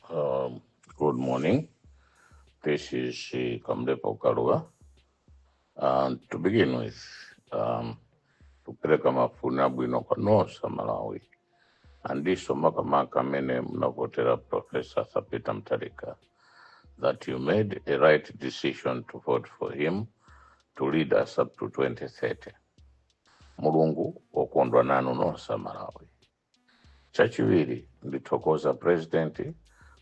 Um, good morning. This is uh, Kamlepo Kalua. And to begin with, um, tupeleka mafuna bwino kwa nosa Malawi andiso makamaka amene munavotera Professor Sapita Mtarika that you made a right decision to vote for him to lead us up to 2030. Mulungu wokondwa nanu nosa Malawi. Chachiwiri, ndithokoza President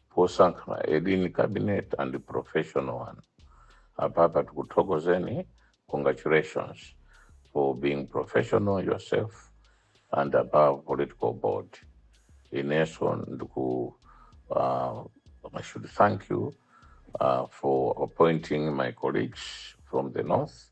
posankha ma edini cabinet and professional one. Apapa tikuthokozeni, congratulations for being professional yourself and above political board. Ineso ndiku, uh, I should thank you uh, for appointing my colleagues from the north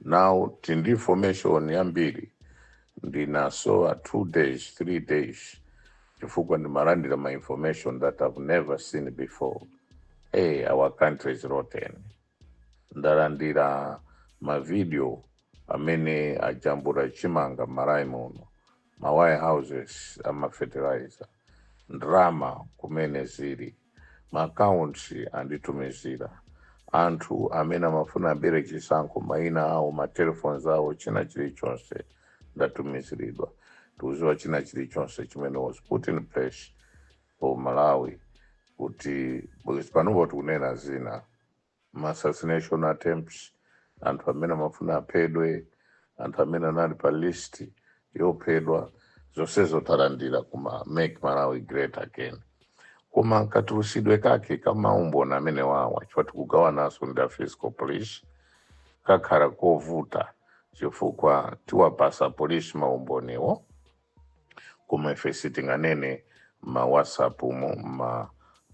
now tili ndi information yambiri ndinasowa two days three days chifukwa ndimalandira ma information that i've never seen before hey our country is rotten ndalandira mavidiyo amene ajambula chimanga m'Malawi muno ma warehouses amafertilizer ndalama kumene zili ma accounts anditumizira, anthu amene amafuna abere chisankho maina awo ma telephones awo china chilichonse ndatumiziridwa tikuziwa china chilichonse chimene was put in place for Malawi kuti because panopo tikunena zina ma assassination attempts anthu amene amafuna aphedwe anthu amene anali pa list yophedwa zonsezo talandira kuma make malawi great again koma katulutsidwe kake kamaumboni amene wawa chifukwa tikugawananso ndi a fiscal police kakhala kovuta chifukwa tiwapasa polisi maumboniwo koma ife sitinganene ma whatsapp mu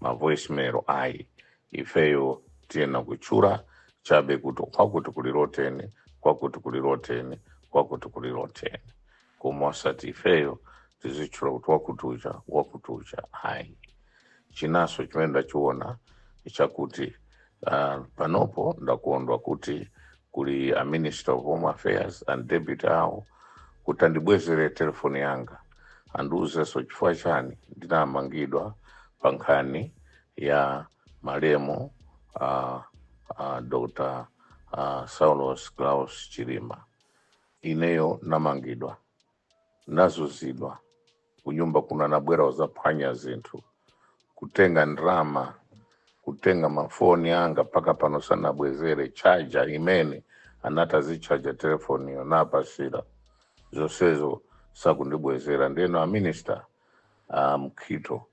ma voicemail ayi ifeyo tiyena kutchula chabe kuti kwakuti kuli loteni kwakuti kuli loteni kwakuti kuli loteni koma osati ifeyo tizitchula kuti wakuti uja wakuti uja ayi chinanso chimene ndachiona chakuti Uh, panopo ndakondwa kuti kuli a minister of home affairs and deputy awo kuti andibwezere telefoni yanga andiuzenso chifukwa chani ndinamangidwa pa nkhani ya malemu uh, uh, dr uh, saulos klaus chilima ineyo nnamangidwa nazunzidwa kunyumba kuno anabwera kuzaphwanya zinthu kutenga ndrama kutenga mafoni anga mpaka pano sanabwezere chaja imene anati azichaja telefoniyo napasira zonsezo sakundibwezera ndeno a minister a mukhito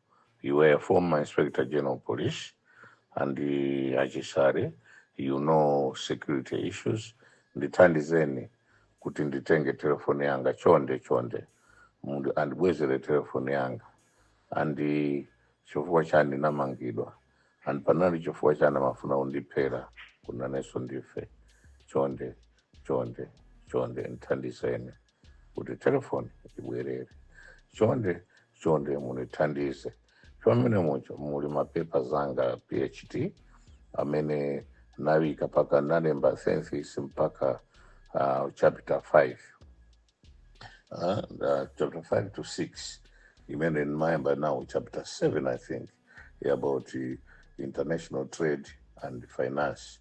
you were a former inspector general police and uh, a chisale you know security issues ndithandizeni kuti nditenge telefoni yanga chonde chonde mundu andibwezere telefoni yanga and chifukwa chani namangidwa and panali chifukwa chani amafuna undiphera kunanenso ndife chonde chonde chonde ndithandizeni kuti telefoni ibwerere chonde chonde mundithandize Chomwecho momo muli mapepa anga a PhD amene nafika mpaka nalemba thesis mpaka uh, chapter 5 uh, uh, chapter 5 to 6 imene ndimayamba now chapter 7 I think about uh, international trade and finance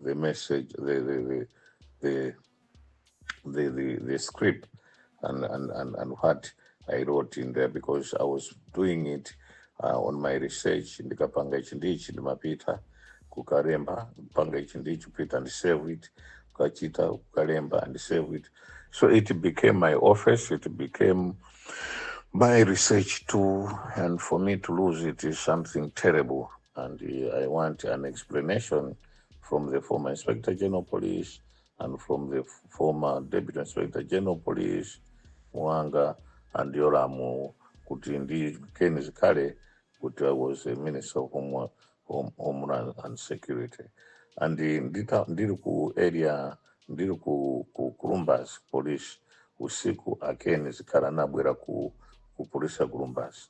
the message, the the the the the, the, the script and, and, and, and what I wrote in there because I was doing it uh, on my research ndikapanga ichi ndichi ndimapita kukalemba panga ichi ndichi kupita and save it kukachita kukalemba and save it so it became my office it became my research too and for me to lose it is something terrible and uh, I want an explanation from the former Inspector General Police and from the f- former Deputy Inspector General Police Mwang'a and Yolamu kuti ndi Ken Zikhale kuti I was a Minister of Home, Home, Homeland and Security and uh, ndita, ndiri ku area ndiri ku, ku Kulumbazi Police usiku a Ken Zikhale anabwera ku, ku polisi ya Kulumbazi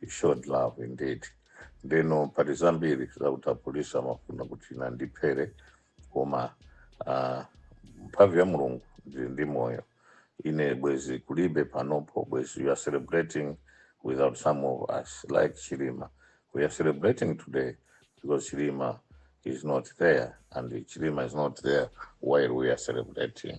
He showed love indeed. Ndeno pali zambiri zakuti apolisi amafuna kuti ine andiphere koma ah, mphamvu ya mulungu ndili ndi moyo ine bwezi kulibe panopo bwezi you are celebrating without some of us like chilima we are celebrating today because chilima is not there and chilima is not there while we are celebrating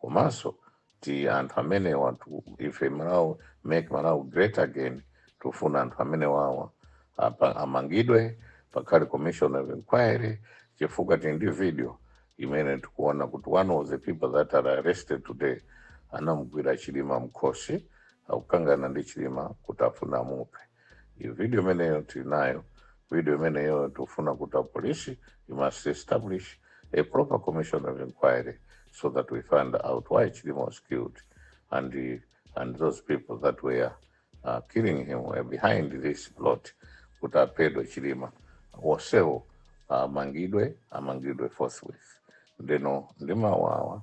komanso ti anthu amenewatu ife malawi make malawi great again tufuna anthu amenewawa apa- amangidwe pakhale commission of inquiry chifukwa tili ndi video imene tikuona kuti one of the people that are arrested today anamugwira chilima mkhosi akukangana ndi chilima kuti afuna amuphe Iyo video imeneyo tinayo, video imeneyo tufuna kuti apolisi you must establish a proper commission of inquiry so that we find out why Chilima was killed and the, and those people that were uh, killing him were behind this plot kuti aphedwe Chilima onsewo amangidwe amangidwe forthwith ndeno ndimawawa